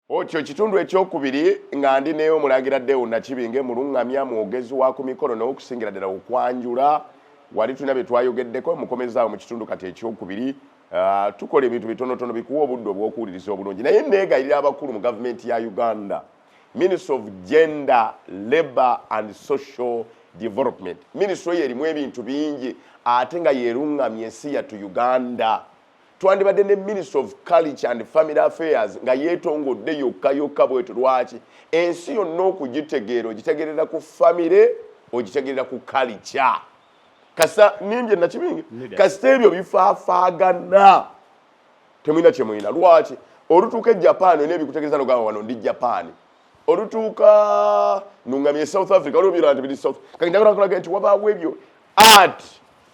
Otyo kitundu ekyokubiri nga ndi ne omulangira Deo Nakibinge mulungamya mwogezi wa ku mikolo n'okusingira ddala okwanjula wali tulina bye twayogeddeko mukomezaawo mu kitundu kati ekyokubiri uh, tukola ebintu bitonotono bikuwa obudde obw'okuwuliriza obulungi naye neegayirira abakulu mu gavumenti ya uganda ministry of gender labor and social development ministry oyo erimu ebintu bingi ate nga yeruŋŋamya ensi yattu uganda twandibadde ne minister of culture and family affairs nga yeetongodde yokka yokka bwetyo lwaki ensi yonna okugitegeera ogitegerera ku famire ogitegerera ku kalica kasa nimbye nakibingi kasita ebyo bifaafaagana temulina kyemulina lwaki olutuuka e japan olina ebikutegereza nogamba wano ndi japan olutuuka nungamye e south africa olwobyona nti biri south kakindagalakulage nti wabaawo ebyo art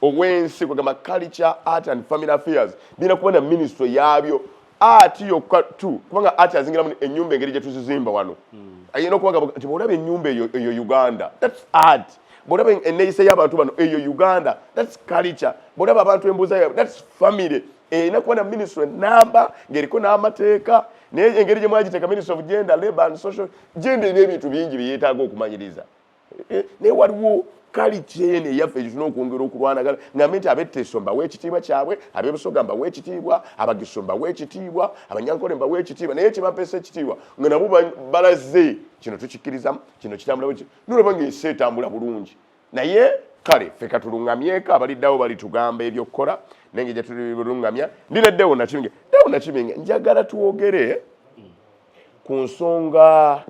obwensi kwegamba culture art and family affairs birina kuba na ministry yaabyo art yokka tu kubanga art azingiramu enyumba engeri gyetuzizimba wano hmm. ayina okubaga nti bwolaba enyumba eyo uganda thats art bwolaba eneyisa y'abantu bano eyo uganda thats culture bwolaba abantu embuuza yabwe thats family erina kuba na ministry namba ngaeriko n'amateeka naye engeri gyemwagiteeka ministry of gender labor and social gender ebyo ebintu bingi byeyetaaga okumanyiriza Eh, naye waliwo kaliti eno eyaffe gyituna okwongera okulwanagana ngambe nti abeteso mbawa ekitiibwa kyabwe abebusoga mbawa ekitiibwa abagiso mbawa ekitiibwa abanyankole mbawa ekitiibwa naye kyebampesa ekitiibwa nga nabo balaze kino tukikkirizamu kino kitambula bweki nolaba nga ensi etambula bulungi naye kale ffe katulungamyeko abaliddawo balitugamba ebyokukola naye nga gyetululungamya ndi ne dewo nakibinge dewo nakibinge njagala twogere ku nsonga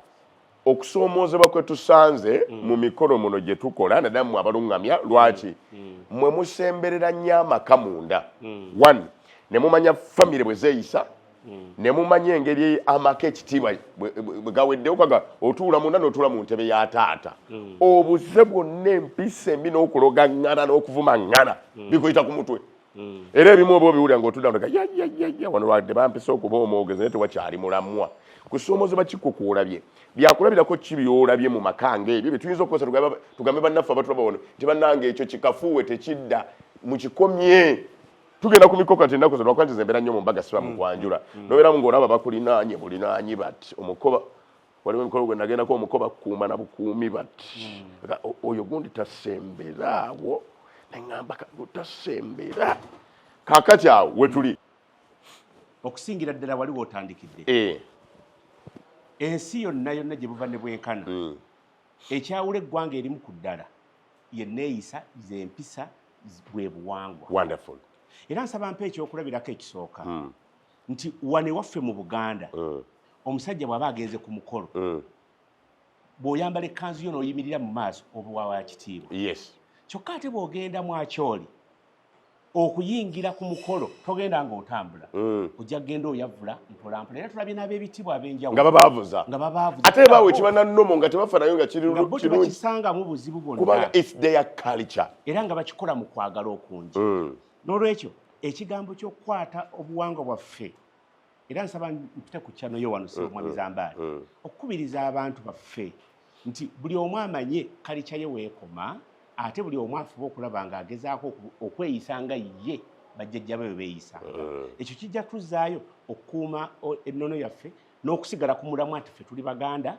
okusoomoozebwa kwe tusanze mm. mu mikolo muno gye tukola naddala mmwe abaluŋŋamya lwaki mm. mm. mmwe musemberera nnyo amaka munda one ne mumanya famire bwe zeeyisa ne mumanya engeri amaka ekitiibwa bwe gaweddewo kaga otuula munda n'otuula mu ntebe ya taata obuze bwonna empisa embi n'okuloga ŋŋana n'okuvuma ŋŋana bikuyita ku mutwe mm. era ebimu oba obiwulira ng'otudda nga yayayaya wano lwadde bampisa okuba omwogezi naye tewakyali mulamwa kusoomoozebwa kikukuolabye byakulabirako ki byolabye mu maka ngaebyo bye tuyinza okukozesa tugambe bannaffe abatulaba wano nti bannanga ekyo kikafuuwe tekidda mukikomye tugenda ku mikoka nti ennaku zino wakwanjiza embeera nnyo mu mbaga siba mukwanjula mm. mm. nobeeramu ng'olaba bakulinaanye bulinaanyi bati omukoba waliwo emikolo gwe nagendako omuko bakuuma na bukuumi bati hmm. oyo gundi tasembera awo neŋamba tasembera kakati awo wetuli okusingira ddala waliwo otandikidde eh. ensi yonna yonna gye buva ne bwenkana hmm. ekyawula eggwanga erimu ku ddala yeneeyisa zempisa bwe buwangwa era nsaba mpa ekyokulabirako ekisooka hmm. nti wano ewaffe mu buganda mm. omusajja bw'aba agenze ku mukolo mm. bw'oyambala ekkanzu yo n'oyimirira mu maaso obuwawa kitiibwa kyokka ate bw'ogenda mwakyoli okuyingira ku mukolo togenda ng'otambula mm. ojja kugenda oyavula mpolampola era tulabye n'ab'ebitibwa ab'enjawulo nga babaavuza nga babaavuza ate baawe ekiba na nnomo nga tebafa nayo nga kiri kirungi bakisangamu buzibu bwonna kubanga it's their culture era nga bakikola mu kwagala okungi n'olwekyo ekigambo ky'okukwata obuwangwa bwaffe era nsaba mpite ku kyano yo wano sibwa mwami zambaali okukubiriza abantu baffe nti buli omu amanye kalikya ye weekoma ate buli omu afuba okulaba nga agezaako okweyisa nga ye bajjajja be beeyisanga eh. ekyo kijja tuzaayo okukuuma ennono yaffe n'okusigala ku mulamwa nti ffe tuli baganda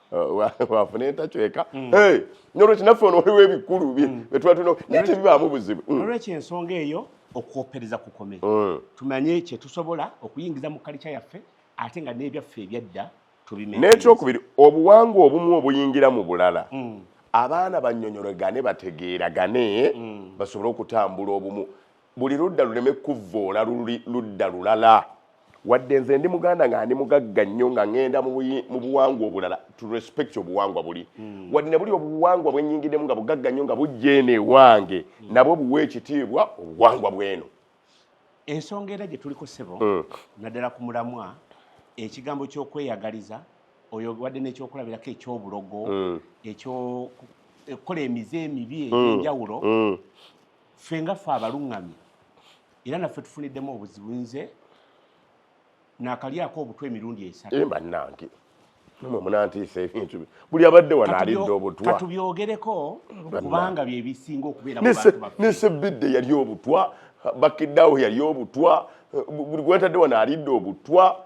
wafuna entakyeka mm. nolwekyo naffe ono waliwo ebikulu mm. byetuba tulina naye tebibaamu buzibu mm. nolwekyo ensonga eyo okwopereza kukome tumanye kyetusobola okuyingiza mu kalikya yaffe ate nga n'ebyaffe ebyadda tubimenye n'ekyokubiri obuwangwa obumu obuyingira mu bulala abaana banyonyoregane bategeeragane basobole okutambula obumu buli ludda luleme kuvvoola luli ludda lulala wadde nze ndi muganda nga ndi mugagga nnyo nga ŋŋenda mu buwangwa obulala to respect obuwangwa buli hmm. wadde ne buli obuwangwa bwe nnyingiddemu nga bugagga nnyo nga bujja eno ewange hmm. nabwo buwa ekitiibwa obuwangwa bw'eno ensonga era gye tuliko ssebo hmm. naddala ku mulamwa ekigambo ky'okweyagaliza oyo wadde n'ekyokulabirako ekyobulogo ekyokukola emize emibi egy'enjawulo ffe nga ffe abaluŋŋamye era naffe tufuniddemu obuzibu nze nakalyako obutwa emirundi esatu eh, bannange mwe munantiisa ebintu buli abadde wano alidde obutwa katubyogereko kubanga bye bisinga okubeera ne sebbidde yali obutwa bakiddawo yali obutwa buli gwetadde wano alidde obutwa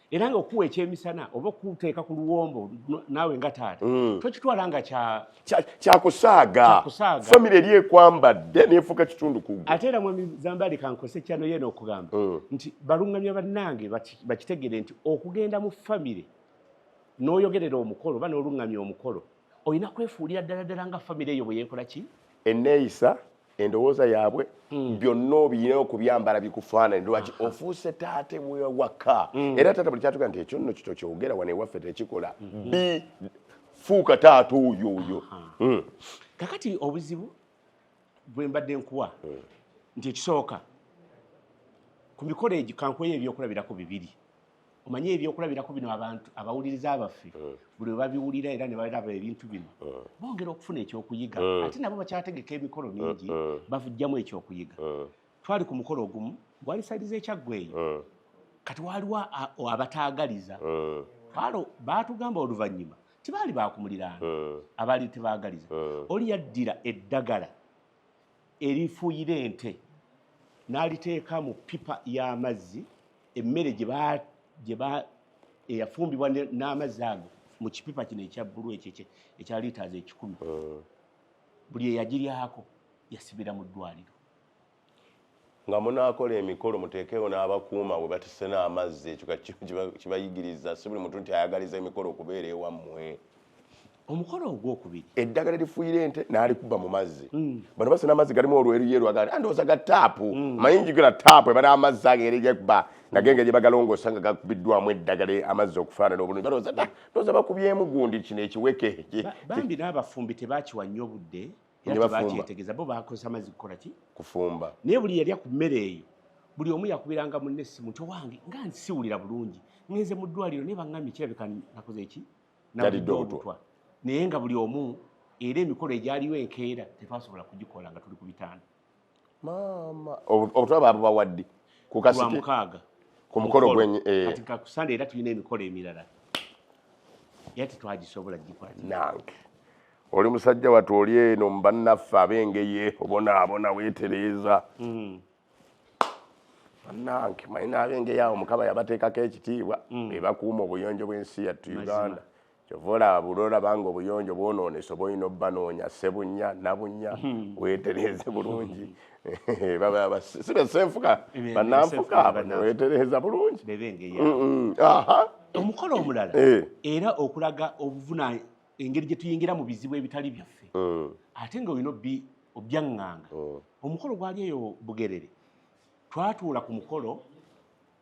era nga okuwa ekyemisana oba okuteeka ku luwombo naawe nga taata mm. tokitwala nga kyakusaaga famiry eri ekwambadde nefuuka kitundu ku ate era mwami zambali kankose kyano yena okugamba mm. nti balungamya bannange bakitegere nti okugenda mu famiry n'oyogerera omukolo oba n'olungamya omukolo olina kwefuulira ddala ddala nga famire eyo bwe yeekola ki enneeyisa endowooza yaabwe hmm. byonna obiyina okubyambala bikufaanani lwaki ofuuse taate wewaka hmm. era taata buli kyatuga nti ekyo nno kito kyogera wano ewaffe tekikola hmm. bi fuuka taata oyo oyo kakati obuzibu bwe mbadde nkuwa nti ekisooka ku mikolo egyo kankuweyo ebyokulabirako bibiri omanyi ebyokulabirako bino abantu abawuliriza baffe mm. buli webabiwulira era nebalaba ebintu bino mm. bongera okufuna ekyokuyiga mm. ate nabo bakyategeka emikolo mingi bavujjamu ekyokuyiga twali ku mukolo ogumu gwali saidi zekyaggwa eyo kati waliwo abataagaliza alo baatugamba oluvannyuma tibaali baakumuliraano abaali tebaagaliza oli yaddira eddagala erifuuyira ente n'aliteeka mu pipa y'amazzi emmere eyafumbibwa n'amazzi ago mu kipipa kino ekya bbulu ekyo ekya liitaazi ekikumi hmm. buli eyagiryako yasibira mu ddwaliro Nga munaakola emikolo muteekeewo n'abakuuma we batisse n'amazzi. Ekyo kati kiba kibayigiriza. Si buli muntu nti ayagaliza emikolo okubeera ewammwe. Omukolo ogwokubiri. Eddagala erifuuyira ente n'alikuba mu mazzi. Mm. Bano basena amazzi galimu olweruyeru agali andowooza ga taapu. Mm. Manyi njigula taapu ebala amazzi ago eri gekuba nagenga gye bagalongoosa nga gakubiddwamu eddagala e, amazzi okufaanana obulungi balowooza da ndowooza bakubyemu gundi kino ekiweke bambi n'abafumbi tebakiwa nnyo budde era tebakyetegeza bo bakozesa amazzi kukola ki kufumba naye buli yalya ku mmere eyo buli omu yakubiranga munne essimu nti owange nga nsiwulira bulungi ngenze mu ddwaliro naye baŋŋambye kirabika nakoze eki nalidde obutwa naye nga buli omu era emikolo egyaliwo enkeera tetwasobola kugikola nga tuli ku bitanda maama obutwa babubawaddi ku kasiki ku mukolo gwenyi eh. kati kakusande era tulina emikolo emirala era tetwagisobola gikwati nange oli musajja watu oli eno mu bannaffe ab'engeye obonaabona weetereeza hmm. bannange manyi n'ab'engeye awo mukama yabateekako ekitiibwa hmm. ebakuuma obuyonjo bw'ensi yattu uganda kyova olaba buli olaba nga obuyonjo bwonoonese oba olina obubanoonya sebunya nabunya hmm. weetereeze bulungi sibe senfuka bananfuka abo neweetereeza bulungi omukolo omulala eh. era okulaga obuvuna engeri gye tuyingira mu bizibu ebitali byaffe hmm. ate nga olina obyaŋŋanga hmm. omukolo gwali eyo bugerere twatuula ku mukolo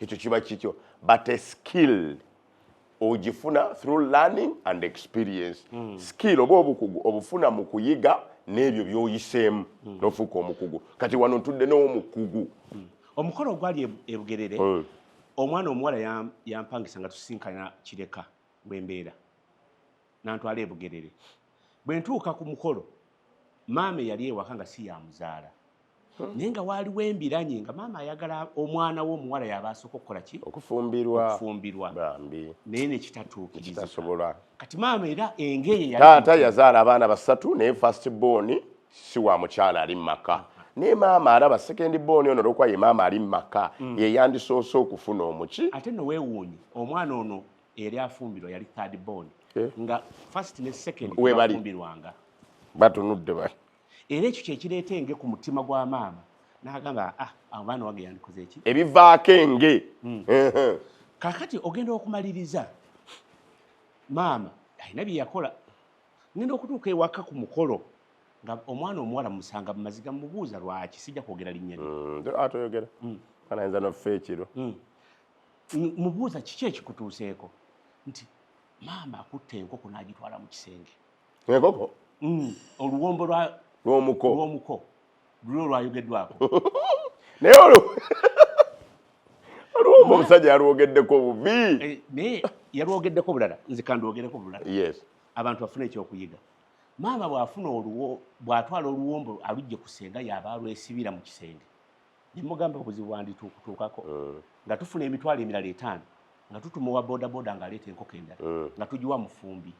ekyo kiba kikyo but a skill ogifuna through learning and experience mm. skill oba obukugu obufuna mu kuyiga n'ebyo byoyiseemu mm. nofuuka omukugu kati wano ntudde n'omukugu mm. omukolo ogwali e-, ebugerere mm. omwana omuwala yampangisa nga tusinkana kireka wembeera nantwala ebugerere bwe ntuuka ku mukolo maama eyali ewaka nga si yamuzaala Hmm. naye nga waaliwo embiranye nga maama ayagala omwana we omuwala yaba asooka okukola ki okufumbirwa okufumbirwa bambi naye nekitatuukirizasobola kati maama era engeye taata yazaala abaana basatu naye fast born si wa mukyala ali mumaka naye maama alaba second born ono olwokuba ye maama ali mumaka hmm. yeyandisoose okufuna omuki ate nowewuunyi omwana ono eri afumbirwa yali third born eh. nga fast ne second webafumbirwanga batunudde bali era ekyo kyekireeta enge ku mutima gwa maama nagamba ah, abaana wange yandikoze eki ebivaako enge hmm. kakati ogenda okumaliriza maama alina byeyakola ngenda okutuuka ewaka ku mukolo nga omwana omuwala musanga mumaziga mubuuza lwaki sijja kwogera linnya hmm, atoyogera ah, hmm. anayinza nofa ekiro mubuuza kiki ekikutuuseeko nti maama akutte enkoko n'agitwala mu kisenge enkoko mm, oluwombo lwa lwomuko lwomuko lulo lwayogeddwako naye olwo oluwombo omusajja yalwogeddeko bubi eh, naye yalwogeddeko bulala nze kandwogereko bulala yes abantu bafuna ekyokuyiga maama bwafuna oluwo bwatwala oluwombo alujje ku senga yaba alwesibira mu kisenge nemugamba obuzibu bwandituukutuukako mm. nga tufuna emitwalo emirala etaano nga tutuma owa bodaboda ng'aleeta enkoko endala mm. nga tugiwa mufumbi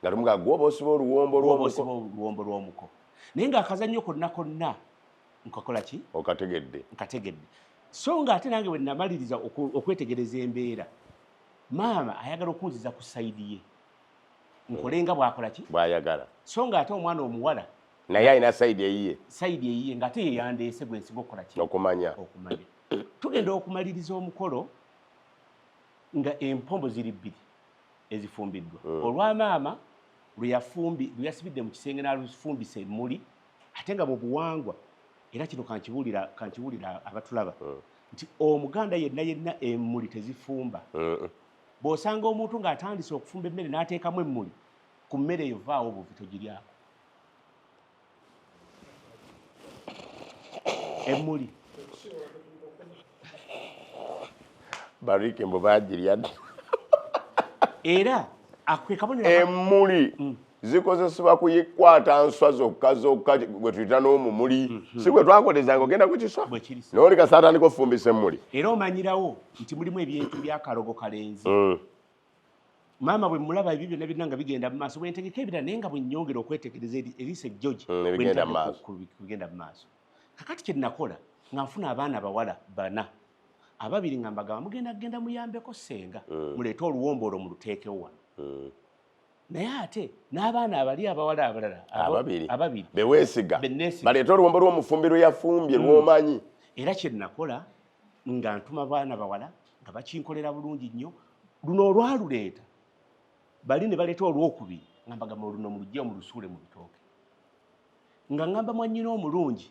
nga lumu nga gwoba osiba oluwombo lwomuko naye nga akazannyo konna konna nkakola ki okategedde nkategedde so nga ate nange bwe namaliriza okwetegereza embeera maama ayagala okunziza ku sayidi ye nkole nga bwakola ki bwayagala so nga ate omwana omuwala naye alina sayidi eyiye sayidi eyiye nga ate yeyandeese gwe nsinga okukola ki okumanya okumanya tugenda okumaliriza omukolo nga empombo ziri bbiri ezifumbiddwa mm. olwa maama lweyafumbi lweyasibidde mu kisenge nalufumbisa emmuli ate nga bwobuwangwa era kino kankibuulira kankibuulira abatulaba mm. nti omuganda yenna yenna emmuli tezifumba mm. bw'osanga omuntu ng'atandise okufumba emmere n'ateekamu emmuli ku mmere eyo vaawo obuvi togiryako emmuli bariki mbu bagirya era emmuli mm. zikozesebwa kuyikwata nswa zokka zokka gwe tuyita n'omumuli mm-hmm. si gwe twakolezanga ogenda ku kiswa nooli kasaatandika ofumbisa emmuli era omanyirawo nti mulimu ebintu byakalogo kalenzi mm. maama bwe mulaba ebyo byonna byonna nga bigenda mu maaso bwentegeka ebira naye nga bwenyongera okwetegereza eriisa ejjoji mm, bigenda mu maaso kakati kye nakola nga nfuna abaana abawala bana ababiri nga mbagamba mugenda kugenda muyambeko senga mm. muleete oluwombo olwo muluteekewo wano mm. naye ate n'abaana abali abawala abalala ababiri beweesiga baleete oluwombo lw'omufumbi lweyafumbye lwomanyi era kye nakola nga ntuma baana bawala nga bakinkolera bulungi nnyo luno olwaluleeta bali ne baleeta olwokubiri nga mbagamba oluno mulujja omulusuule mu bitooke nga ngamba mwannyina omulungi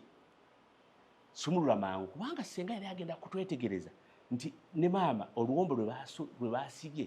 sumulula mangu kubanga ssenga yali agenda kutwetegereza nti ne maama oluwombo lwe baasibye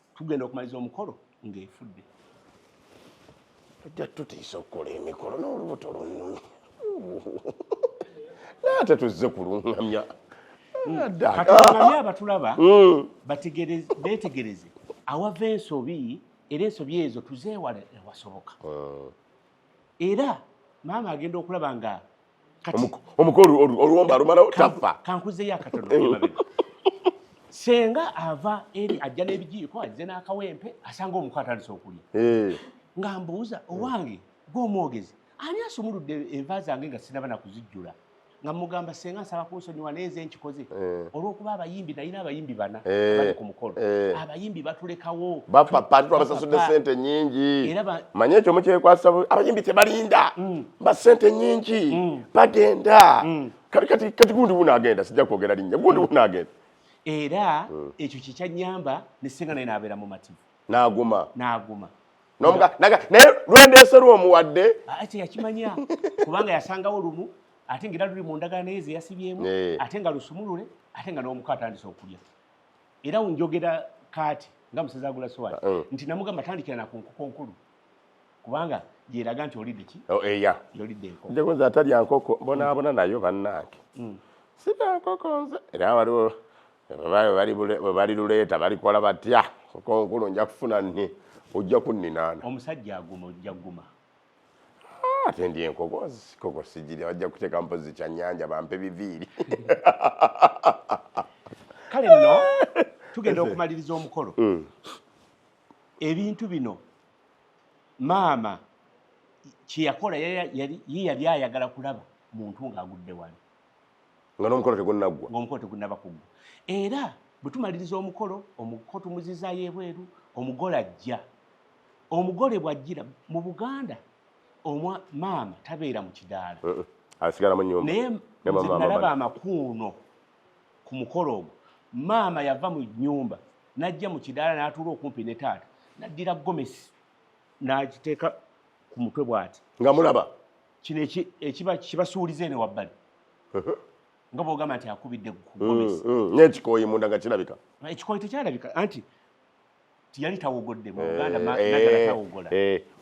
tugenda okumaliza omukolo ng'efudde tujja tutiisa okukola emikolo n'olubuto lunyumi naye tetuzze kulungamya katulungamya abatulaba hmm. betegereze awava ensobi era ensobi ezo tuzeewala ewasoboka hmm. era maama agenda okulaba nga omuko oluwomba alumalawo tafa kankuzeyo akatono eh. senga ava eri ajja n'ebijiiko ajja n'akawempe asanga omuko atandise okulya eh. nga mbuuza owange gw'omwogezi ani asumuludde enva zange nga sinaba nakuzijjula nga mugamba senga nsaba kunsonyiwa naye nze nkikoze eh. olwokuba abayimbi nalina abayimbi bana eh. bali ku mukolo eh. abayimbi batulekawo bapapa tubasasudde sente nyingi manye ekyo mukyekwasa abayimbi tebalinda mm. basente nyingi mm. bagenda mm. kati kati kati gundi buna agenda sija kwogera linya gundi mm. buna agenda era mm. ekyo kikya nyamba ne singa naye nabera mu mativu naguma naguma nomuga naga naye lwendese lwo muwadde ati ah, yakimanya kubanga yasangawo lumu ate ngira luli mu ndagana naye zeyasibyemu eh. ate nga lusumulule ate nga n'omuka atandise okulya era unjogera kaati nga musezi agula sowaani ah, eh. nti namugamba tandikira naku nkuko nkulu kubanga yeraga nti olidde ki oh, eya yolidde enkoko nze nze atalya nkoko bonaabona nayo bannange hmm. sirya nkoko nze era waliwo bali luleeta balikola batya nkoko nkulu nja kufuna nni ojja kunninaana omusajja aguma ojja guma ah, ate ndi enkoko koko sigirya bajja kuteeka mpozi kyannyanja bampe biviiri kale nno tugenda okumaliriza omukolo hmm. ebintu bino maama kyeyakola ye yali ayagala kulaba muntu ng'agudde wali nga n'omukolo tegunnaggwa ng'omukolo tegunnaba kuggwa era bwe tumaliriza omukolo omuko tumuzizaayo ebweru omugole ajja omugole bw'ajjira mu buganda omwa maama tabeera mu kidaala naye nalaba amakuuno ku mukolo ogwo maama yava mu nyumba n'ajja mu kidaala n'atuula okumpi ne taata n'addira gomesi n'agiteeka ku mutwe bw'ati nga mulaba kino ekiba kibasuuliza eno wabbali nga bwogamba nti akubidde mm, gomesi mm, n'ekikooyi munda nga kirabika ekikooyi tekyalabika anti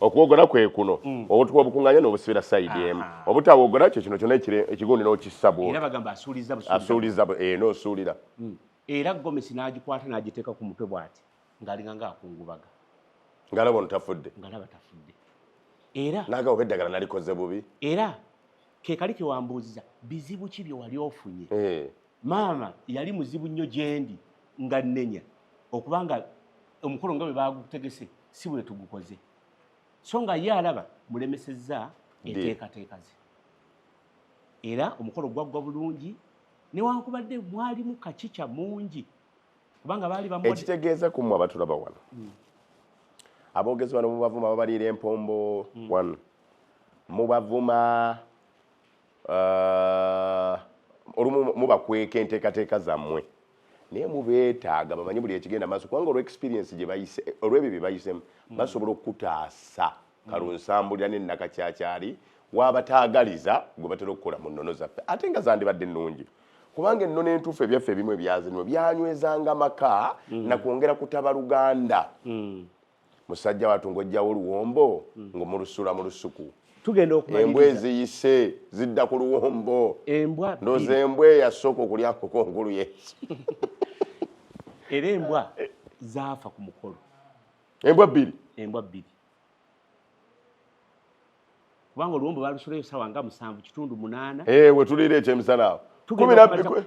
okuwogola kwekuno mm. obutuka obukunganya nobusibira saidi emu obutawogola kyo kino kyona ekigundi nokissa bwoasuuliza eh, nosuulira mm. era gomesi nagikwata nagiteeka ku mutwe bwati ngaalinga ngaakungubaga ngalaba ono tafudde ngalaba tafudde era naga oba eddagala nalikoze bubi era kekali kewambuuziza bizibu ki byewali ofunye eh. maama yali muzibu nnyo gyendi nga nnenya okubanga omukolo nga bwe bagutegese si bwe tugukoze so nga ye alaba mulemesezza enteekateeka ze era omukolo gwaggwa bulungi newankubadde mwalimu kakica mungi kubanga baali bamu ekitegeeza ku mwe abatulaba wano mm. aboogezi bano mubavuma babaliira empombo mm. wano mubavuma uh, olumu mubakweka enteekateeka zammwe naye mubeetaaga bamanye buli ekigenda maaso kubanga olwexperiensi gyebayise olwebyo bye bayisemu mm. basobola okukutaasa mm. kalunsambulira nenakakyakyali wabataagaliza gwe batera okukola mu nnono zaffe ate nga zandibadde ennungi kubanga ennono entuufu ebyaffe ebimu ebyazinwa byanywezanga maka mm. nakwongera kutaba luganda musajja watu ngojjawo oluwombo mm. ngomulusula mu lusuku embwa eziyise zidda ku luwombo ndoza embwa eyasooka okulya nkoko nkulu yesu era embwa zaafa ku mukolo embwa bbiri embwa bbiri kubanga oluwombo balusulayo sawa nga musanvu kitundu munaana eh, wetuliira ekyemisana awo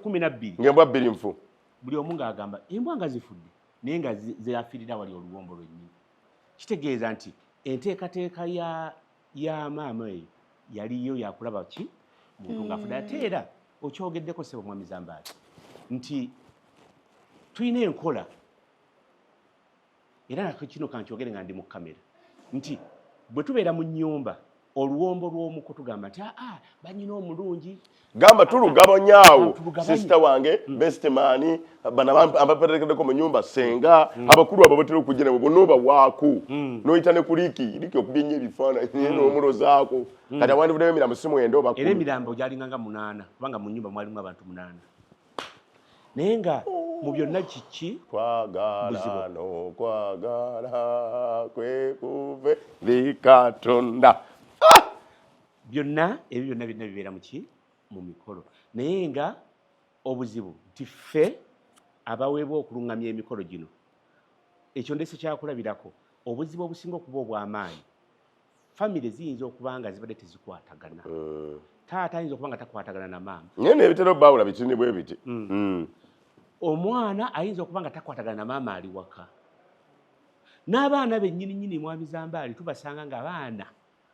kumi nabbiri ngaembwa bbiri nfu buli omu ngaagamba embwa nga zifudde naye nga zeyafirira wali oluwombo lwennyini kitegeeza nti enteekateeka ya ya maama eyo yaliyo yakulaba ki muntu mm. ngaafude ate era okyogeddeko sebo mwami zambaali nti tulina enkola era kino kankyogere nga ndi mu kamera nti bwe tubeera mu nyumba oluwombo lw'omuko tugamba nti aa ah, ah, banyina omulungi gamba tulugabanyaawo sisita wange mm. bestemani banabaperekedeko mu nyumba senga mm. abakulu abo batera okujja nabo bonoba waaku mm. noyita ne kuliki liki okubye nyo ebifaananyi n'omulozaako kati awandibudemu emirambo si mwenda obakulu era emirambo gyalinganga munaana kubanga mu nyumba mwalimu abantu munaana naye nga mu byonna kiki kwagala nokwagala kwekuve likatonda ah! byonna ebyo byonna byonna bibeera muki mu mikolo naye nga obuzibu nti ffe abaweebwa okulungamya emikolo gino ekyo ndese kyakulabirako obuzibu obusinga okuba obw'amaanyi famire ziyinza okuba nga zibadde tezikwatagana mm. taata ayinza okuba nga takwatagana na maama naye nebitera obaawula bitini bwe biti mm. mm. omwana ayinza okuba nga takwatagana na maama ali waka n'abaana bennyini nyini mwami zambaali tubasanga nga abaana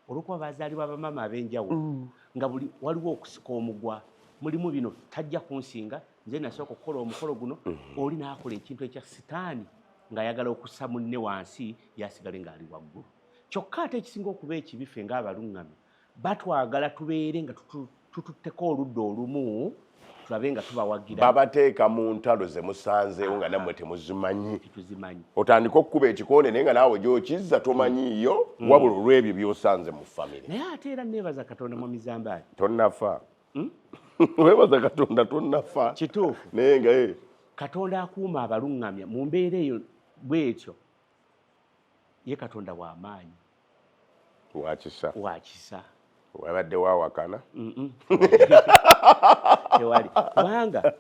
olwokuba bazaalibwa bamaama ab'enjawulo mm. nga buli waliwo okusika omugwa mulimu bino tajja kunsinga nze nasooka okukola omukolo guno mm-hmm. oli n'akola ekintu ekya sitaani ng'ayagala okussa munne wansi yasigale ng'ali waggulu kyokka ate ekisinga okuba ekibi ffe ng'abaluŋŋamya batwagala tubeere nga tututteko oludda olumu tulabe nga tubawagira babateeka mu ntalo ze musanzeewo nga nammwe temuzimanyi otandika okukuba ekikonde naye nga naawe gyokizza tomanyiiyo mm. wabula olw'ebyo byosanze mu famire naye ate era neebaza katonda mu mizambaali tonnafa hmm? weebaza katonda tonnafa kituufu naye nga eh. katonda akuuma abaluŋŋamya mu mbeera eyo bwetyo ye katonda wa maanyi wakisa wakisa wabadde wawakana tewali kubanga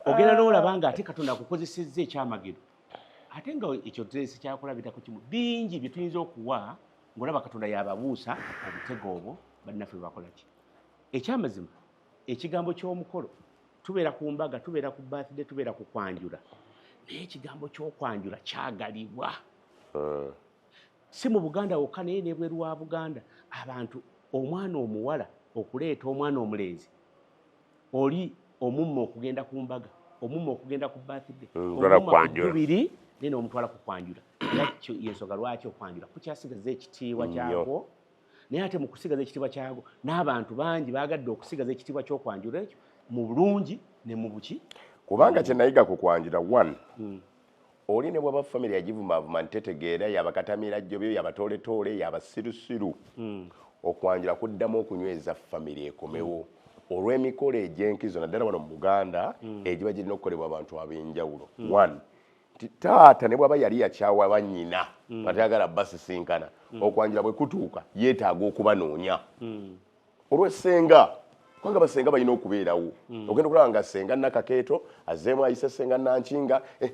ogenda nolaba nga ate katonda akukozesezza ekyamagero ate nga ekyo tulese kyakulabirako kimu bingi bye tuyinza okuwa ng'olaba katonda yababuusa obutego obwo bannaffe bakolaki ekyamazima ekigambo ky'omukolo tubeera ku mbaga tubeera ku birthday tubeera ku kwanjula naye ekigambo ky'okwanjula kyagalibwa eh. si mu buganda wokka naye nebweru wa buganda abantu omwana omuwala okuleeta omwana omulenzi oli omumma okugenda ku mbaga omumma okugenda ku birthday mm, biri naye nomutwala ku kwanjula yakyo yensonga lwaki okwanjula kukyasigaza ekitiibwa kyakwo naye ate mu kusigaza ekitiibwa kyago n'abantu bangi baagadde okusigaza ekitiibwa ky'okwanjula ekyo mu bulungi ne mu buki kubanga kye nayiga ku kwanjula one hmm. oli ne bwaba famire yagivumaavuma ntitetegeera yabakatamira jjobyo yabatooletoole yabasirusiru hmm. okwanjula kuddamu okunyweza famire ekomewo mm. olw'emikolo egy'enkizo naddala wano mu buganda mm. egiba girina okukolebwa abantu ab'enjawulo mm. one nti taata ne bwaba yali yakyawa bannyina mm. nga tayagala basisinkana mm. okwanjula bwe kutuuka yeetaaga okubanoonya mm. olw'essenga kubanga basenga balina okubeerawo ogenda okulaba nga senga nakakeeto azeemu ayise senga nankinga eh,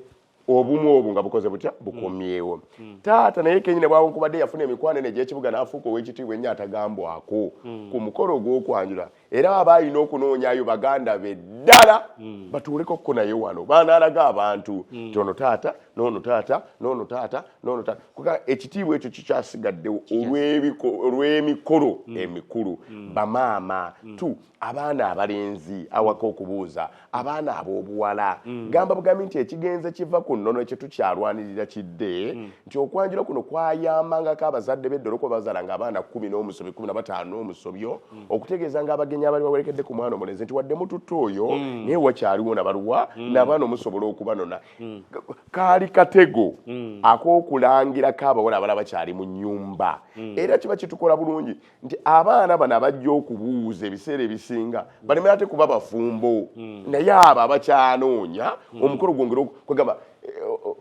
obumu obwo nga bukoze butya bukomyewo taata naye kenyine bwawonkubadde yafuna emikwano ene egyekibuga n'afuuka ow'ekitiibwa ennyo atagambwako ku mukolo ogw'okwanjula era aba alina okunoonyayo baganda be ddala mm. batuuleko ko naye wano banaalaga abantu mm. ti ono taata noono taata noono taata noono taata kuga ekitiibwa ekyo kikyasigaddewo olw'emikolo mm. emikulu mm. bamaama mm. tu abaana abalenzi awaka okubuuza abaana ab'obuwala mm. gamba bugambi nti ekigenze kiva ku nnono ekyo tukyalwanirira kidde mm. nti okwanjula kuno kwayambangako abazadde b'eddolo kuba bazala nga abaana kumi n'omusobi kumi na bataano omusobyo mm. okutegeeza nga abagenyi abali bawerekedde ku mwana omulenzi nti wadde mututta oyo mm. naye wakyaliwo nabaluwa mm. n'abaana omusobola okubanona mm. kaali katego mm. ak'okulangirako abawala abala bakyali mu nnyumba mm. era kiba kitukola bulungi nti abaana bano abajja okubuuza ebiseera ebisinga baleme ate kuba bafumbo hmm. naye abo abakyanoonya hmm. omukolo gwongere kwegamba eh,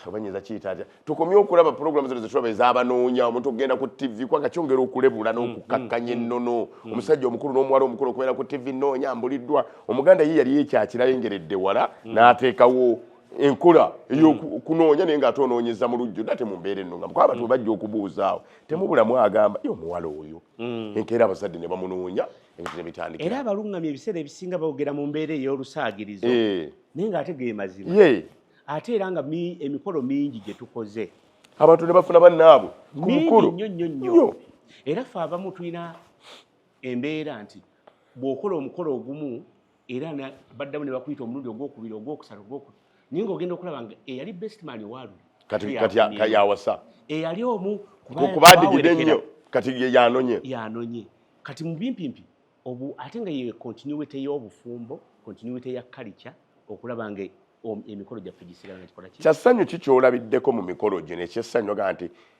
obanyinza kiyita atya tukomye okulaba pulogulamu zino zetulaba ezabanoonya omuntu okugenda ku tivi kubanga kyongera okulebula n'okukakkanya hmm, ennono omusajja omukulu n'omuwala omukulu okubeera ku tivi noonya mbuliddwa omuganda ye yali ekyakirayengeredde wala n'ateekawo enkola eyokunoonya naye nga ate onoonyeza mu lujjudde ate mu mbeera enno nga mukwaba abantu bebajja okubuuzaawo temubulamu agamba yo omuwala oyo mm. enkeera abazadde ne bamunoonya ebintu ne bitandika era abalungamya ebiseera ebisinga bawogera mu mbeera ey'olusaagirizo eh. naye ng'ate ge mazima ate era nga emikolo mingi gye tukoze abantu ne bafuna bannaabwe ku mukulu nnyo nnyo nnyo era fe abamu tulina embeera nti bw'okola omukolo ogumu era baddamu ne bakuyita omulundi ogwokubiri ogwokusatu ogwoku naye ngaogenda okulaba nga eyali bestman owaaluli kati yawasa eyali omu kubadigide nnyo kati yanonye yanonye kati mubimpimpi obu ate nga ye continuity y'obufumbo continuity ya kalica okulaba nga emikolo gyaffe gisigala nga kikola ki kyassanyu ki kyolabiddeko mu mikolo gino ekyessanyu ogaa nti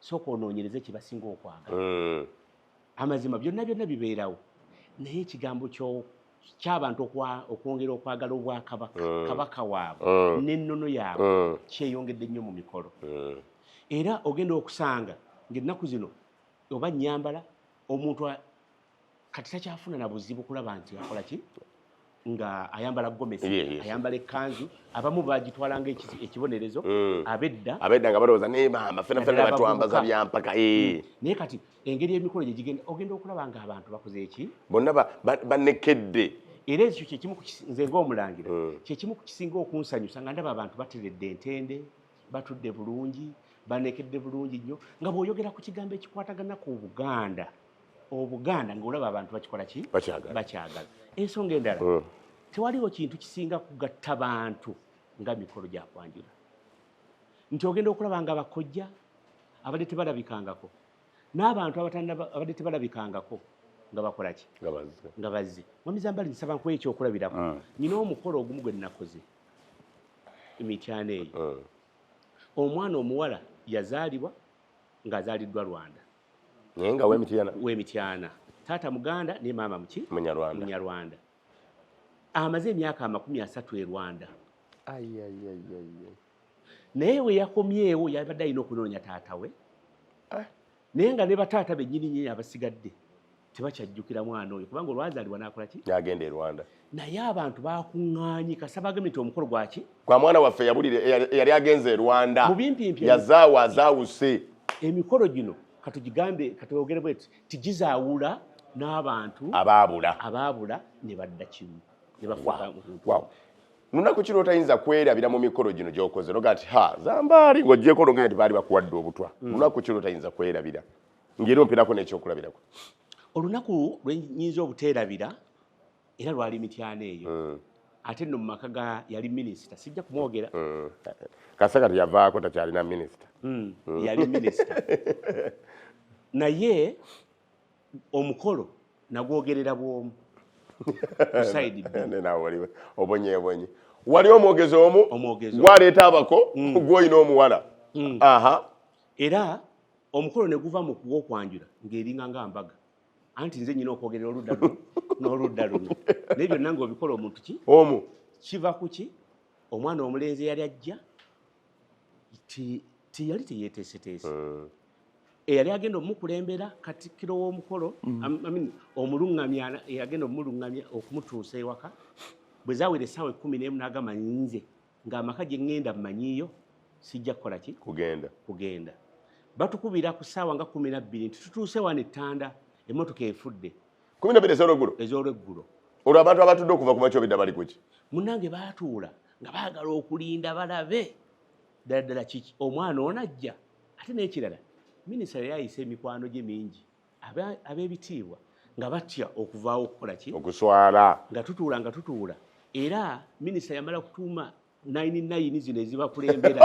sooka onoonyereze kye basinga okwagala mm. amazima byonna byonna bibeerawo naye ekigambo kyabantu okwongera okwagala obwakabaka mm. kabaka waabwe mm. n'ennono yaabwe mm. kyeyongedde nnyo mu mikolo mm. era ogenda okusanga ngaennaku zino oba nyambala omuntu kati takyafuna na buzibu kulaba nti akola ki nga ayambala gomesi yeah, yes. ayambala ekanzu abamu bagitwala nga ekibonerezo mm. abedda abedda nga balowooza naye maama fena fena batwambaza byampaka mm. eh. naye kati engeri emikolo gye gigenda ogenda okulaba nga abantu bakoze eki bonna banekedde ba, ba era ekyo kyekimu nze ngaomulangira hmm. kyekimu ku kisinga okunsanyusa nga ndaba abantu bateredde entende batudde bulungi banekedde bulungi nnyo nga bw'oyogera ku kigambo ekikwatagana ku buganda obuganda ngaolaba abantu bakikola ki bakyagala ensonga endala hmm. tewaliwo kintu kisinga kugatta bantu nga mikolo gyakwanjula nti ogenda okulaba nga bakojja abadde tebalabikangako n'abantu abadde tebalabikangako nga bakola ki nga bazze mwamizambali nsaba nkuwa ekyokulabirako hmm. nyina omukolo ogumu gwe nnakoze emityana eyo hmm. omwana omuwala yazaalibwa ng'azaaliddwa rwanda naye nga wemityana wemityana taata muganda ne maama muki munyarwanda munyarwanda amaze emyaka amakumi asatu e rwanda naye we yakomyewo yabadde alina okunoonya taata we ah. naye nga ne bataata bennyini nyini abasigadde tebakyajjukira mwana oyo kubanga olwazaalibwa nakola ki nagenda e rwanda naye abantu bakuŋŋaanye kasaba agambye nti omukolo gwaki kwa mwana waffe yabulire eyali agenze e rwanda yazaawa azaawuse emikolo gino katugigambe katwogere bweti tigizaawula n'abantu abaabula abaabula ne badda kimu ne bafuuka wow. lunaku kino otayinza kwerabira mu mikolo gino gyokoze noga nti ha zambaali ng'ogyeko nogenda nti baali bakuwadde obutwa mm. lunaku kino otayinza kwerabira ngeri ompirako nekyokulabirako olunaku lwenyinza obuteerabira era lwali mityana eyo mm. ate no mumaka ga yali minisita sijja kumwogera mm. kasaka teyavaako takyalina minisita mm. yali minisita naye omukolo nagwogerera bwomu kusaidi bbiri obonyebonye wali omwogezi omu gwaleeta abako mm. gwolina omuwala mm. aha era omukolo ne guva mu kuwa okwanjula ng'eringa nga mbaga anti nze nyina okwogerera oludda luno n'oludda luno naye byonna ng'obikola omuntu ki omu kiva ku ki omwana omulenzi eyali ajja tiyali teyeteeseteese hmm. eyali agenda omukulembera katikkiro w'omukolo hmm. omuluŋŋamya eyagenda omuluŋŋamya okumutuusa ewaka bwe zawera essaawa ekkumi n'emu n'agamba nze nga amaka gye ŋŋenda mmanyiiyo sijja kukola ki kugenda kugenda batukubira ku ssaawa nga kumi na bbiri nti tutuuse wano ettanda emmotoka efudde kumi na bbiri ez'olweggulo ez'olweggulo olwo abantu abatudde okuva ku makya obidda bali kuki munnange baatuula nga baagala okulinda balabe ddala ddala kiki omwana onajja ate n'ekirala minisita yali ayise emikwano gye mingi ab'ebitiibwa nga batya okuvaawo okukola ki okuswala nga tutuula nga tutuula era minisita yamala kutuuma nayini nayini zino ezibakulembera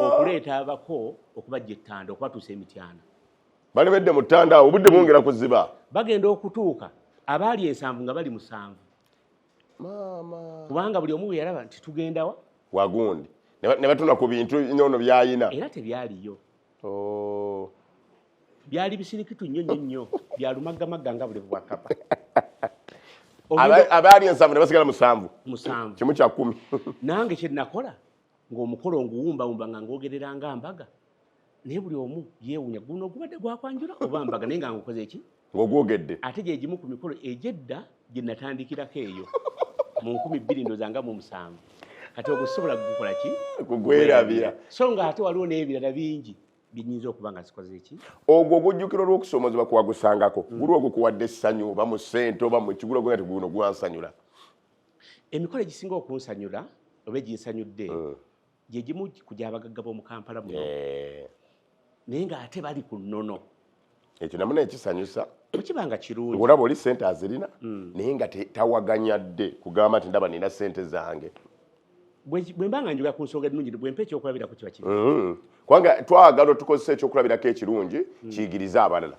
okuleeta abako okubajja ettanda okubatuusa emityana bali bedde mu ttanda awo obudde bwongera kuziba bagenda okutuuka abaali ensanvu nga bali musanvu kubanga buli omu bwe yalaba nti tugendawa wagundi ne batuna ku bintu noono byayina era tebyaliyo Oh. byali bisirikitu nnyo nnyo nnyo byalumaggamagga nga bulevu bwa kapa abaali ensanvu ne basigala musanvu musanvu kimu kya kumi nange kye nakola ng'omukolo nguwumbawumba nga ngogerera nga mbaga naye buli omu yeewunya guno ogubadde gwakwanjula oba mbaga naye nga ngukoze ki ng'ogwogedde ate gye gimu ku mikolo egy'edda gye natandikirako eyo mu nkumi bbiri ndoza nga mu musanvu kati ogwo sisobola kugukola ki kugwerabira so nga ate waliwo n'ebirala bingi binyinza okuba nga zikoze eki ogwo ogujjukira olw'okusoomozebwa kuwagusangako mm. guli ogwo kuwadde essanyu oba mu ssente oba mu kigulo gwe nti guno gwansanyula emikolo egisinga okunsanyula oba eginsanyudde mm. gye gimu ku gy'abagagga b'omu kampala muno eh. naye ng'ate bali ku nnono ekyo namu naye kisanyusa okiba nga kirungi olaba oli sente azirina hmm. naye nga tawaganya dde kugamba nti ndaba nina sente zange bwe mba nga njogera ku nsonga ennungi bwe mpa ekyokulabirako kiba kiri hmm. kubanga twagala tukozesa ekyokulabirako ekirungi hmm. kiyigirize abalala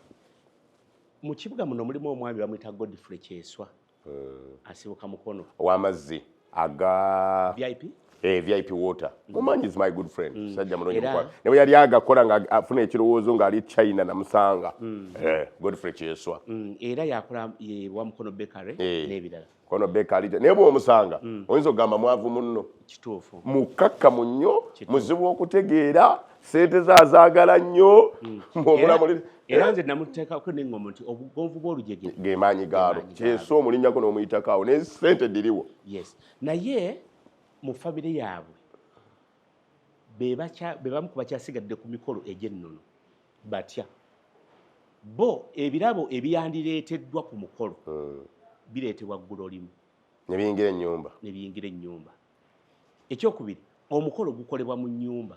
mu kibuga muno mulimu omwami bamuyita godfrey kyeswa eh. asibuka mukono owamazzi aga vip eh, vip water mm. mumanyi is my good friend mm. sajja mulungi mukwano ne bwe yali agakola nga afuna ekirowoozo ng'ali china namusanga mm. eh, godfrey kyeswa mm. era yakola ye wa mukono bakery eh. n'ebirala kono bakery naye bw'omusanga mm. oyinza okugamba mwavu munno kituufu mukakkamu nnyo muzibu okutegeera sente ze azaagala nnyo mm. era nze namuteekako neŋŋomo nti obugonvu bw'olujege ge maanyi gaalo kyeso omulinnyako n'omuyitakawo ne sente diriwo yes naye mu famire yaabwe be bamu ku bakyasigadde ku mikolo egy'ennono batya bo ebirabo ebyandireeteddwa ku mukolo hmm. bireetebwa ggulo limu nebiyingira ennyumba nebiyingira ennyumba ekyokubiri omukolo gukolebwa mu nnyumba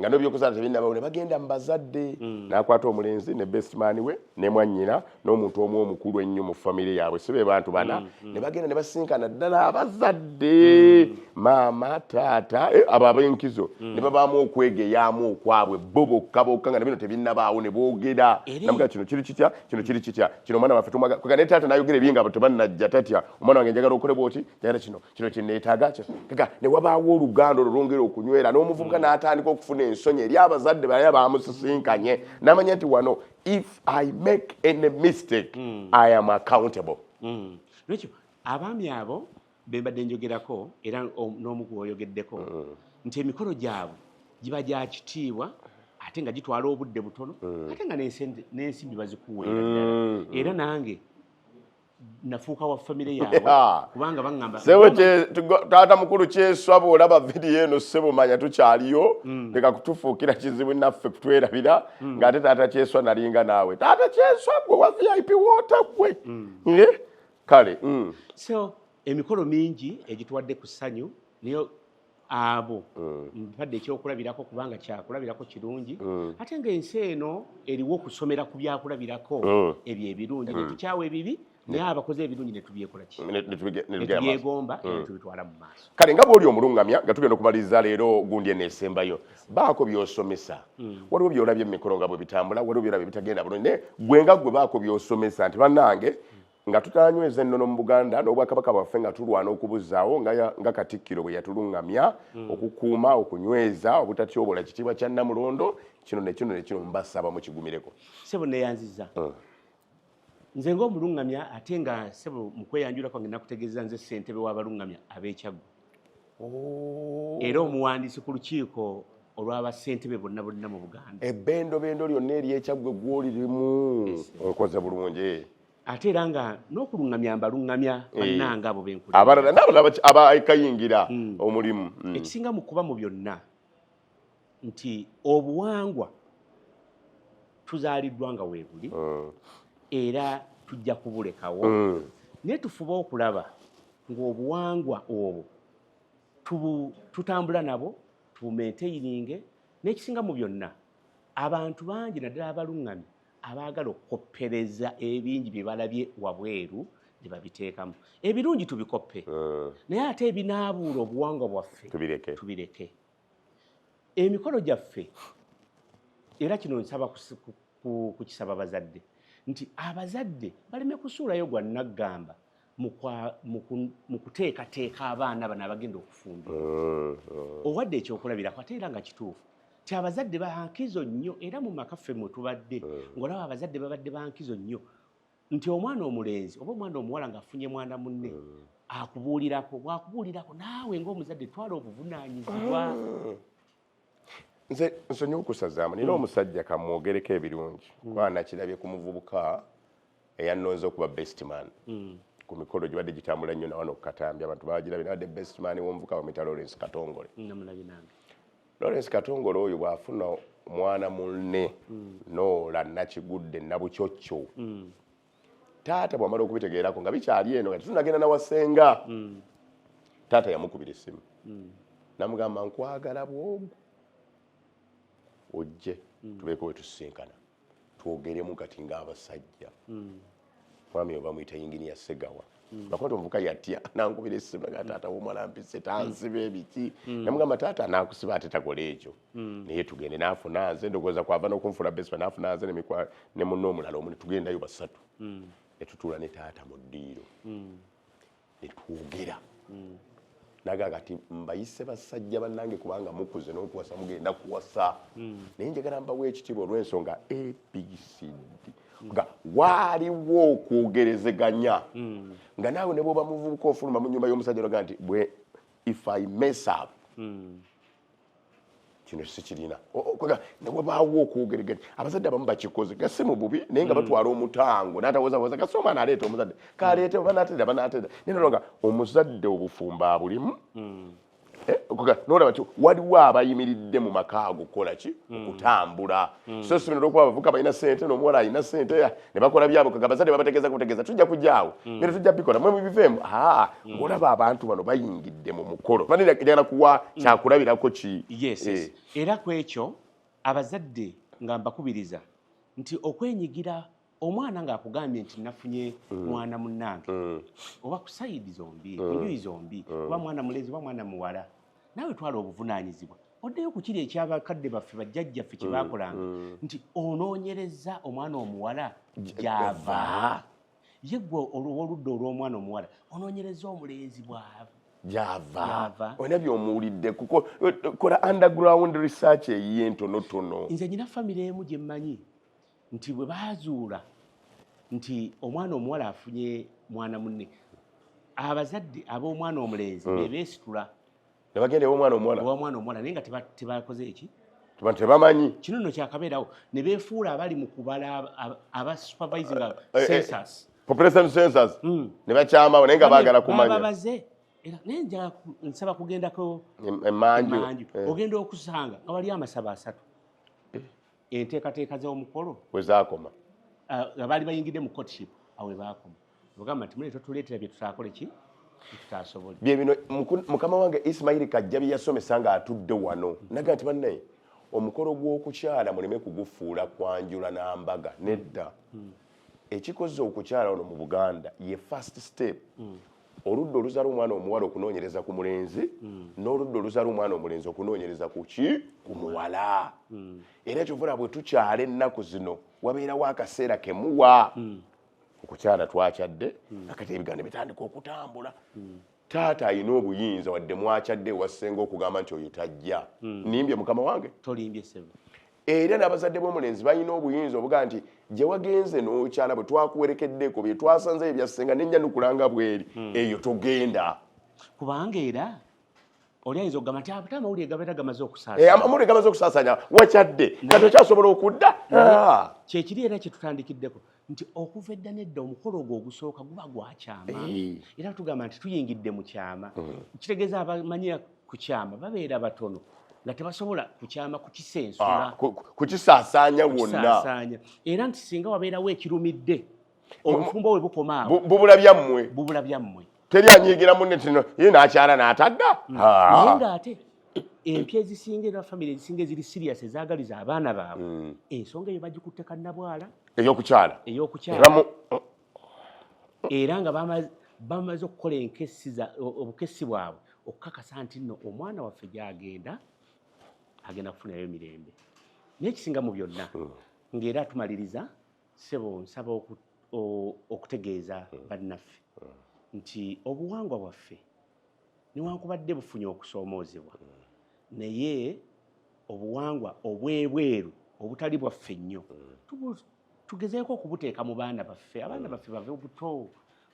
nga nobyokuzaala tebinabawo ne bagenda mubazadde mm. nakwata omulenzi ne bestman we ne mwanyina n'omuntu omu omukulu ennyo mu famire yaabwe si be bantu bana mm, mm. ne bagenda ne basinkana ddala abazadde mm. maama taata eh, abo abenkizo mm. ne babaamu okwegeyaamu okwabwe bo bokka bokka nga nabino tebinabaawo ne boogera namuga kino kiri kitya kino kiri kitya kino omwana waffe tumwaga kwega ne taata nayogera ebinga abo tebanajja tatya omwana wange njagala okole bwoti njagala kino kino kyeneetaaga kika ne wabaawo oluganda olwo lwongera okunywera n'omuvubuka mm. n'atandika okufuna ensonyi eri abazadde balaya bamusisinkanye namanya nti wano if i make any mistake mm. i am accountable mm. nekyo abaami abo bembadde njogerako era n'omu kuoyogeddeko mm. nti emikolo gyabwe giba gya kitiibwa ate nga gitwala obudde butono mm. ate nga n'ensimbi bazikuweera mm. era nange nafuuka wa famire yaabwe kubanga baŋŋamba sebo taata mukulu kyeswa bw'olaba vidiyo eno sebo manya tukyaliyo mm. leka kutufuukira kizibu naffe kutwerabira mm. ng'ate taata kyeswa nalinga naawe taata kyeswa gwe wa vip woota gwe mm. eh? kale so emikolo mingi egituwadde ku ssanyu naye abo mm. mpadde ekyokulabirako kubanga kyakulabirako kirungi mm. ate nga ensi eno eriwo okusomera ku byakulabirako mm. ebyo ebirungi netukyawa ebibi naye abakoze ebirungi netubyegombatubyegomba netubitwala mu maaso kale nga bwoli omulungamya nga tugenda okumaliriza leero gundi eno esembayo baako byosomesa waliwo byolabye mumikolo nga bwebitambula waliwo byolabye bitagenda bulungi naye gwe nga gwe baako byosomesa nti banange nga tutanyweza ennono mu buganda n'obwakabaka bwaffe nga tulwana okubuzaawo nga katikkiro bwe yatuluŋŋamya hmm. okukuuma okunyweza obutatyobola kitiibwa kya namulondo kino nekino nekino mubasaba mukigumireko sebo neyanziza hmm. nze ngaomuluŋŋamya ate nga sebo mukweyanjula kwange nakutegeeza nze ssentebe w'abaluŋŋamya ab'ekyaggu oh. era omuwandiisi ku lukiiko olw'abasentebe bonna bonna mu buganda ebendobendo lyonna eryekyaggwe gwoli limu onkoze bulungi ate era nga n'okulungamya mbalungamya eh. bannanga abo benkulaabalala n'abalala abakayingira hmm. omulimu hmm. ekisinga mu kuba mu byonna nti obuwangwa tuzaaliddwa nga weebuli hmm. era tujja kubulekawo naye tufuba okulaba ng'obuwangwa obwo tutambula nabo tubumenteyiringe n'ekisinga mu byonna abantu bangi naddala abaluŋŋamye abaagala okukoppereza ebingi bye balabye wabweru ne babiteekamu ebirungi tubikoppe eh. naye ate ebinaabuula obuwangwa bwaffe tubireke emikolo gyaffe era kino nsaba kukisaba bazadde nti abazadde baleme kusuulayo gwa naggamba mu kuteekateeka abaana bano abagenda okufumba mm, mm. owadde ekyokulabirako ate era nga kituufu ti abazadde bankizo nnyo era mu maka ffe mwe tubadde mm. ng'olaba abazadde babadde bankizo nnyo nti omwana omulenzi oba omwana omuwala ng'afunye mwana munne akubuulirako bwakubuulirako naawe ng'omuzadde twala obuvunaanyizibwa nze nsonyiwa okusazaamu nina hmm. omusajja kamwogereko ebirungi hmm. kuba nakirabye ku muvubuka eyannonze okuba best man hmm. ku mikolo gibadde gitambula nnyo nawano okukatambi abantu bagirabye nabadde best man womuvuka bamwita lawrence katongole lawrence katongole oyo bwafuna mwana munne noola nakigudde nabukyokyo taata bwamala okubitegeerako nga bikyali eno nga tetunagenda nawasenga mm. taata yamukubira essimu mm. namugamba nkwagala bwogu ojje mm. tubeeko wetusisinkana twogeremu kati ngaabasajja mwami obamuyita yingini ya segawa Mm. Nakwata omuvuka yatya nankubira essimu naga mm. taata womwana mpise tansiba ebiki mm. namugamba taata nakusiba ate takola ekyo naye tugende nafuna nze ndowooza kwava nokunfula besi nafuna nze ne munna omulala omu netugendayo basatu netutuula ne taata mu ddiiro netwogera naga kati mbayise basajja bannange kubanga mukuze n'okuwasa mugenda kuwasa hmm. naye njagala mbawo ekitiibwa olw'ensonga abcd hmm. nga waaliwo okwogerezeganya hmm. nga naawe ne bwoba muvubuka ofuluma mu nyumba y'omusajja olaga nti bwe if i mess up kino sikirina newebaawo okwogereganya abazadde abamu bakikoze gasi mu bubi naye nga mm. batwala omutango natawozawoza gasi omwana aleeta omuzadde kaleete oba nateera banateera naye nolonga omuzadde obufumbo abulimu mm. eh, nolaba ti waliwo abayimiridde mu maka ago kukola ki mm. okutambula so sibino olwokuba abavuka balina sente nomuwala alina sente ne bakola byabwe kwe abazadde babategeeza kutegeeza tujja kujja awo mm. era tujja bikola mwe mubiveemu aa mm. olaba abantu bano bayingidde mu mukolo banjagala kuwa mm. kyakulabirako ki eh. era ku ekyo abazadde nga mbakubiriza nti okwenyigira omwana ng'akugambye nti nafunye mm. mwana munnange mm. oba ku sayidi zombi mm. enjuyi zombi oba mwana mulezi oba mwana muwala naawe twala obuvunaanyizibwa oddeyo ku kiri ekyabakadde baffe bajjajjaffe kye mm, baakolanga mm. nti onoonyereza omwana omuwala gyava ye gwe olwoludda olw'omwana omuwala onoonyereza omulenzi bwava gyava olina byomuwulidde kola underground research eyiye entonotono nze nyina famiry emu gye mmanyi nti bwe baazuula nti omwana omuwala afunye mwana munne abazadde ab'omwana omulenzi hmm. bebeesitula ne bagenda ew'omwana omuwala ew'omwana omuwala naye nga tebakoze eki abantu tebamanyi kino no kyakabeerawo ne beefuula abali mu kubala aba supervising eh, eh, eh, census population census hmm. ne bakyamawo naye nga baagala kumanya babaze era naye njala nsaba kugendako emanju ogenda okusanga nga wali amasaba asatu enteekateeka z'omukolo wezaakoma ah, nga baali bayingidde mu courtship awe baakoma ogamba nti mune totuleetera bye tutaakole ki tutasobole bye bino mukama wange isimairi kajja bye yasomesa ng'atudde wano naga nti bannaye omukolo gw'okukyala muleme kugufuula kwanjula n'ambaga nedda hmm. ekikoze okukyala ono mu buganda ye first step hmm. oludda oluzala omwana omuwala okunoonyereza ku mulenzi mm. n'oludda oluzala omwana omulenzi okunoonyereza ku ki ku muwala mm. era kyovula bwe tukyala ennaku zino wabeerawo akaseera kemuwa mm. okukyala twakyadde akati ebiganiro bitandika okutambula taata alina obuyinza wadde mwakyadde ewasenga okugamba nti oyo tajja nimbye mukama wange era n'abazadde b'omulenzi balina obuyinza obuga nti gye wagenze n'okyala bwe twakuwerekeddeko bye twasanzeyo byassenga nenja nukulanga bweri hmm. eyo togenda kubanga era oli ayinza okugamba nti ate amawulire gabeera gamaze okusaasaa eh, amawulire gamaze okusaasaanya wakyadde kati okyasobola okudda ah. kyekiri era kyetutandikiddeko nti okuva edda nedda omukolo ogwo ogusooka guba gwakyama era tugamba nti tuyingidde mu kyama mm. kitegeeza abamanyira ku kyama babeera batono nga tebasobola kukyama kukisensula ah, kukisaasaanya wonna era nti singa wabeerawo ekirumidde obufumbo we bukoma awo bubula byammwe teri anyiigira munne tino ye nakyala natadda mm. naye nga ate empya ezisinga era famiry ezisinga eziri sirias ezagaliza abaana baabwe mm. ensonga eyo bagikutte kannabwala eyokukyala eyokukyala era nga bamaze okukola enkesi obukesi bwabwe okukakasa nti nno omwana waffe gyagenda agenda kufunayo emirembe naye ekisinga mu byonna mm. ng'era tumaliriza sebo nsaba okut okutegeeza hmm. bannaffe hmm. nti obuwangwa bwaffe newankubadde bufunye okusoomoozebwa hmm. naye obuwangwa obwebweru obutali bwaffe nnyo tugezeeko okubuteeka mu baana baffe abaana baffe bave obuto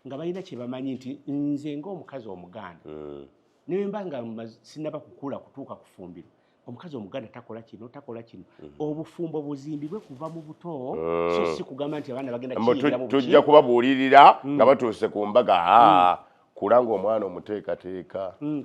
nga balina kyebamanyi nti nze ngaomukazi omuganda newemba nga sinaba kukula kutuuka kufumbiro omukazi omuganda takola kino takola kino mhm. obufumbo buzimbibwe kuva mu buto eh. so si kugamba nti abaana bagenda tujja kubabuulirira hmm. nga batuuse ku mbaga hmm. kula ng'omwana omuteekateeka hmm,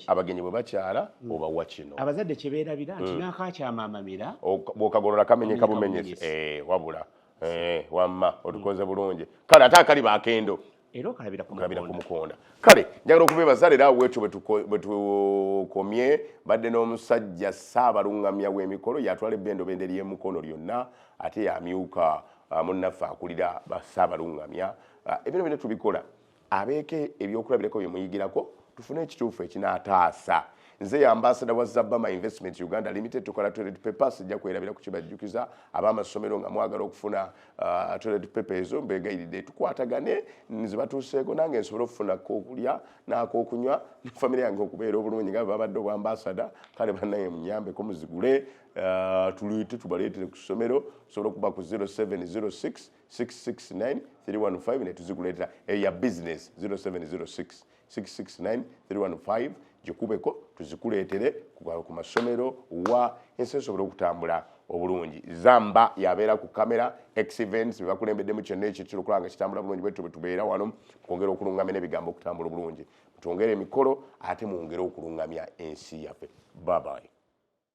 abagenyi bwe bakyala obawa kino abazadde kye beerabira nti n'akakyamamamira bw'okagolola kamenyeka bumenyesi eh, wabula eh, wamma otukoze bulungi kale ate akali bakendo era okalabira ku mukonda kale njagala okubeebaza leero awo wetyo bwetukomye badde n'omusajja saabalungamya w'emikolo yatwala ebbendobende ly'emukono lyonna ate yamyuka uh, munnaffe akulira saabalungamya uh, ebino bino tubikola abeeko ebyokulabirako byemuyigirako tufune ekituufu ekinaataasa nze ya ambasada wa zabama investment uganda limited tukola toilet papers ejja kwerabira ku kibajjukiza ab'amasomero nga mwagala okufuna Uh, toilet paper ezo mbegayiride tukwatagane nzibatuuseeko nange nsobole okufuna kokulya nakokunywa ne famire yange okubeera obulungi nga babadde obwambasada kale banaye munyambeko muzigule uh, tuluyite tubaleetere ku ssomero tusobole okuba ku 0706 669 315 netuziguleetera eyo ya business 0706 669315 gikubeko tuzikuleetere ku masomero wa ensi esobole okutambula obulungi zamba yabeera ku kamera exvents bebakulembeddemu kyonna ekyekira okulaba nga kitambula bulungi bwetyo bwetubeera wano kwongera okulungamya n'ebigambo okutambula obulungi mutwongere emikolo ate mwongere okulungamya ensi yaffe babayi